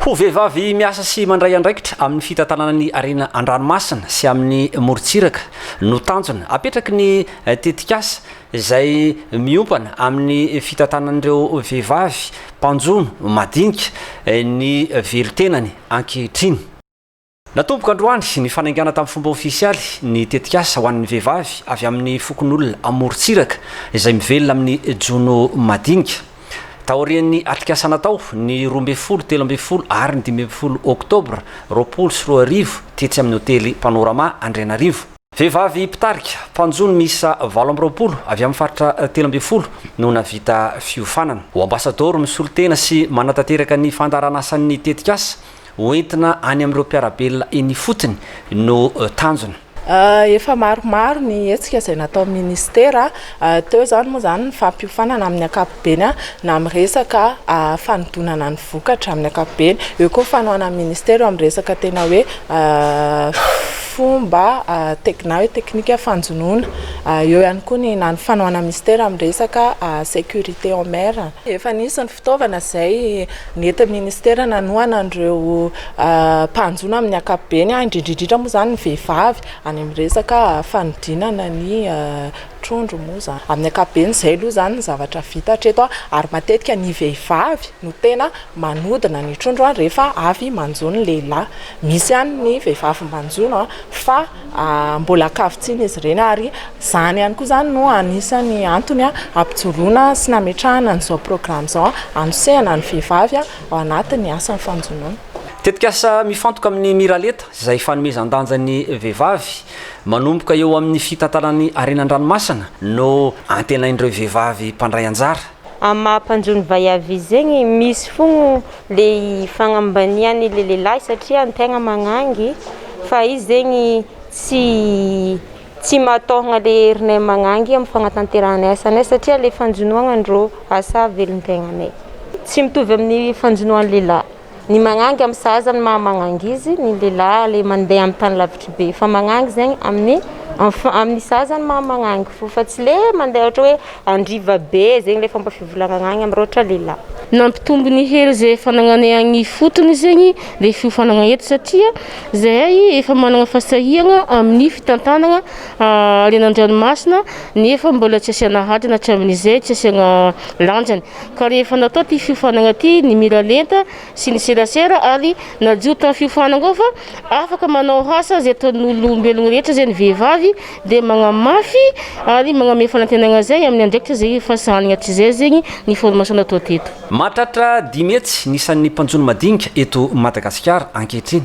Ho vehivavy miasa sy mandray andraikitra amin'ny fitantanana ny harena an-dranomasina sy amin'ny morontsiraka no tanjona apetraky ny tetikasa izay miompana amin'ny fitantanan'ireo vehivavy mpanjono madinika ny velon-tenany ankehitriny. Natomboka androany ny fanaingana tamin'ny fomba ofisialy ny tetikasa ho an'ny vehivavy avy amin'ny fokonolona amorontsiraka izay mivelona amin'ny jono madinika. Taorian'ny atrikasa natao ny roa ambin'ny folo, telo ambin'ny folo ary ny dimy ambin'ny folo oktobra roapolo sy roa arivo tetsy amin'ny hotely Panorama Andrianarivo, Vehivavy mpitarika, mpanjono miisa valo amby roapolo avy amin'ny faritra telo ambin'ny folo no nahavita fiofanana. Ho ambasadaoro misolo tena sy manatanteraka ny fandaharanasan'ny tetikasa, ho entina any amin'ireo mpiara-belona eny ifotony no tanjona. Efa maromaro ny hetsika izay nataon'ny Ministera Teo izany moa izany ny fampiofanana amin'ny ankapobeny na amin'ny resaka fanodinana ny vokatra amin'ny ankapobeny. Eo koa ny fanohanan'ny minisitera eo amin'ny resaka tena hoe fomba na hoe teknika fanjonoana. Eo ihany koa ny na ny fanohanan'ny minisitera amin'ny resaka sécurité en mer. Efa nisy ny fitaovana izay nentin'ny minisitera nanohana an'ireo mpanjono amin'ny ankapobeny, indrindra indrindra moa izany ny vehivavy any amin'ny resaka fanodinana ny. trondro moa izany. Amin'ny ankapobeny izay aloha izany ny zavatra vita hatreto ary matetika ny vehivavy no tena manodina ny trondro rehefa avy manjo ny lehilahy. Misy ihany ny vehivavy manjono fa mbola ankavitsiana izy ireny ary izany ihany koa izany no anisan'ny antony hampijoroana sy nametrahana an'izao programa izao hanosehana ny vehivavy ao anatin'ny asan'ny fanjonoana. Tetikasa mifantoka amin'ny Miralenta izay fanomezan-danja ny vehivavy Manomboka eo amin'ny fitantanana ny harena an-dranomasina no antenain'ireo vehivavy mpandray anjara. Amin'ny maha mpanjo ny vay avi zegny misy fogno le fagnambaniany le lehilahy satria ny tegna magnangy fa izy zegny tsy tsy mahatôhagna le herinay magnangy amin'ny fagnatanterahanay asanay satria le fanjonoagna ndrô asa velon-tegnanay tsy mitovy amin'ny fanjonoan'ny lehilahy. Ny magnangy amin'ny sahaza ny maha magnangy izy, ny lehilahy ilay mandeha amin'ny tany lavitry be. Fa magnangy zegny amin'ny enf- amin'ny sahaza ny maha magnangy fo fa tsy le mandeha ohatra hoe andriva be zegny le fomba fivolagnana agny amin'ny ohatra lehilahy. Nampitombo ny hery izay fanagnanay agny ifotony zegny le fiofanagna eto satria zahay efa managna fasahiagna amin'ny fitantanagna haren-dranomasina nefa mbola tsy asiana hadina hatramin'izay, tsy asiagna lanjany. ka rehefa natao ity fiofanana ity ny miralenta sy ny serasera ary nadio tamin'ny fiofanana ao fa afaka manao asa izay ataon'ny olombelogno rehetra izay ny vehivavy dia magnamafy ary magnome fanantenana izay amin'ny andraikitra izay efa sahaniny hatrizay zegny ny formation natao teto. Mahatratra dimy hetsy ny isan'ny mpanjono madinika eto Madagasikara ankehitriny.